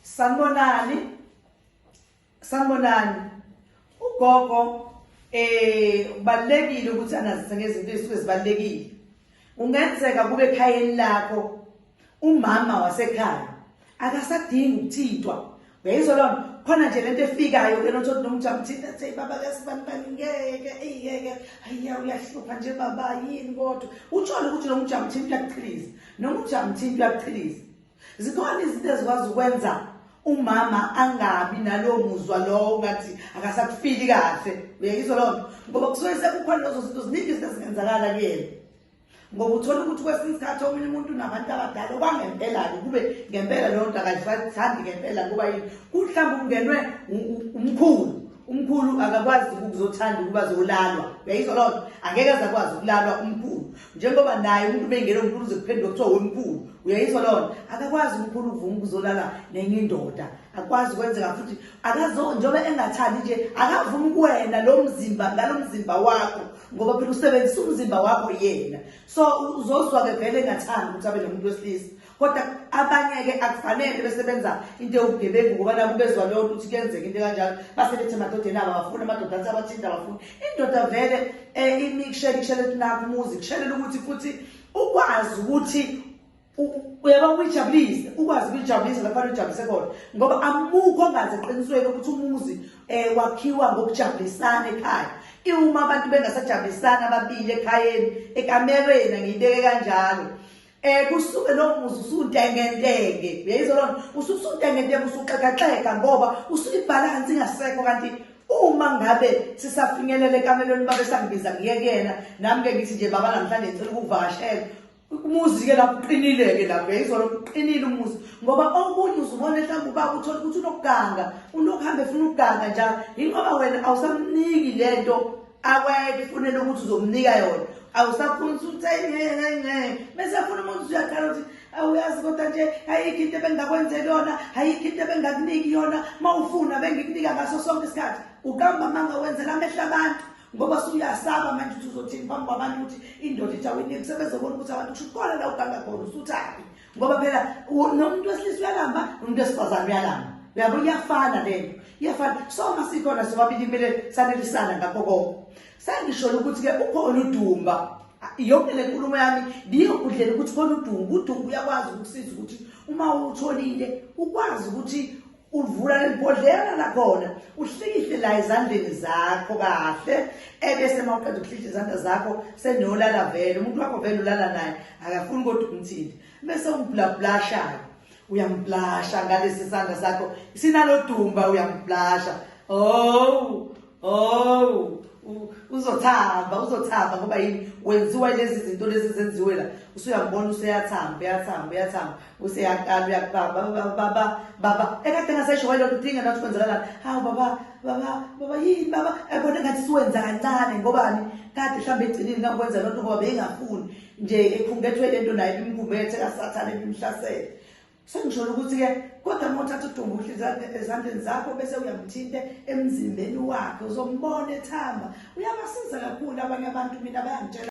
Sanibonani. Sanibonani. Ugogo eh kubalekile ukuthi anazise ngezinto ezisuke zibalekile. Ungenzeka kube ekhayeni lakho umama wasekhaya akasadingi ukuthintwa. Uyayizwa lona khona nje lento efikayo ke nothi nomjamthini athi baba kasibani bani ngeke eyeke ayiya uyahlupha nje baba yini kodwa utsholo ukuthi nomjamthini uyakuchiliza nomjamthini uyakuchiliza zikhona izinto ezikwazi ukwenza umama angabi nalowo muzwa lowo ngathi akasakufili kahle uyayizwa loo nto ngoba kusuke sekukhona lezo zinto ziningi izinto ezingenzakala kuyena ngoba uthole ukuthi kwesinye isikhathi omunye umuntu unabantu abadala okwangempela-ke kube ngempela leyo nto akayithandi ngempela ngoba yini kuhlawumbe ungenwe umkhulu umkhulu akakwazi ukuzothanda ukuba zolalwa uyayizwa loo nto angeke aze akwazi ukulalwa umkhulu njengoba naye umuntu bengena umkhulu uze kuphenduka kuthiwa wemkhulu uyayizwa loo nto akakwazi umkhulu uvuma ukuzolala nenye indoda akwazi ukwenzeka futhi akazo njengoba engathandi nje akavumi kuwena lo mzimba ngalo mzimba wakho ngoba phela usebenzisa umzimba wakho yena so uzozwa-ke vele engathandi ukuthi abe nomuntu wesilisa kodwa abanye-ke akufanele besebenza into ewubugebengu ngoba nabo bezwa leyo nto ukuthi kuyenzeka into kanjalo base bethi emadodeni abo abafuni amadoda athi abathinta abafuni indoda vele um imi kushela ikushela ukuthi nakho umuzi kushelela ukuthi futhi ukwazi ukuthi uyaba ukuyijabulise ukwazi ukuyijabulisa lapho uyijabulise khona ngoba amukho ongazi eqinisweni ukuthi umuzi um wakhiwa ngokujabulisana ekhaya iwuma abantu bengasajabulisana ababili ekhayeni ekamereni angiyibeke kanjalo Eh kusuke lokhu muzi usuntengentenge. Uyayizwa lona? Usuke usuntengentenge usuxekaxeka ngoba usuke ibalance ingasekho kanti uma ngabe sisafinyelele kamelweni babe sangibiza ngiye kuyena nami ke ngithi nje baba namhlanje ngicela ukuvakashela umuzi ke lapho uqinile ke lapho yayizwa lokho uqinile umuzi ngoba okunye uzubona mhlawumbe ubaba uthole ukuthi unokuganga unokuhambe efuna ukuganga njalo yingoba wena awusamniki lento akwayeke ifunele ukuthi uzomnika yona awusakhona ukuthi uthenge ngeke ngeke bese afuna umuntu uyaqala ukuthi awuyazi kodwa nje ayikho into ebengingakwenzela yona ayikho into ebengingakuniki yona uma ufuna bengikunika ngaso sonke isikhathi uqamba amanga wenzela amehlo abantu ngoba suyasaba manje ukuthi uzothini phambi kwabantu ukuthi indoda ithi awuyiniki sebezobona ukuthi abantu kusho khona la uganga khona usuthaphi ngoba phela nomuntu wesilisa uyalamba nomuntu wesifazane uyalamba uyabo iyafana lento iyafana soma sikhona sobabili kumele sanelisana ngakho konke sengisholo ukuthi-ke ukhona udumba yonke le nkulumo yami ngiyokudlela ukuthi khona udumba udumba uyakwazi ukusiza ukuthi uma utholile ukwazi ukuthi uvula libhodlela lakhona uhlikihle la ezandleni zakho kahle ebese uma uqeda ukuhlihle izandla zakho senolala vele umuntu wakho vele ulala naye akafuni kodwa ukumthinte bese umblablashake uyamblasha ngalesi sandla sakho sinalodumba uyamblasha oh Oh, uzothamba, uzothamba ngoba yini wenziwa lezi zinto lezi zenziwe la. Usuyambona useyathamba, uyathamba, uyathamba, useyakala uyakubamba baba baba. Ekade ngasesho wayelo kudinga nathi kwenzakala. Hawu baba, baba, baba yini baba? Ebona ngathi siwenza kancane ngobani? Kade mhlambe egcinile ngakwenza lonto ngoba bengafuni nje ekhungethwe lento naye imkhumbethe kasathane bimhlasele. Sengisholo ukuthi-ke kodwa uma uthatha uDumbuhle ezandleni zakho bese uyamthinte emzimbeni wakhe uzombona ethamba uyabasiza kakhulu abanye abantu mina bayangitshela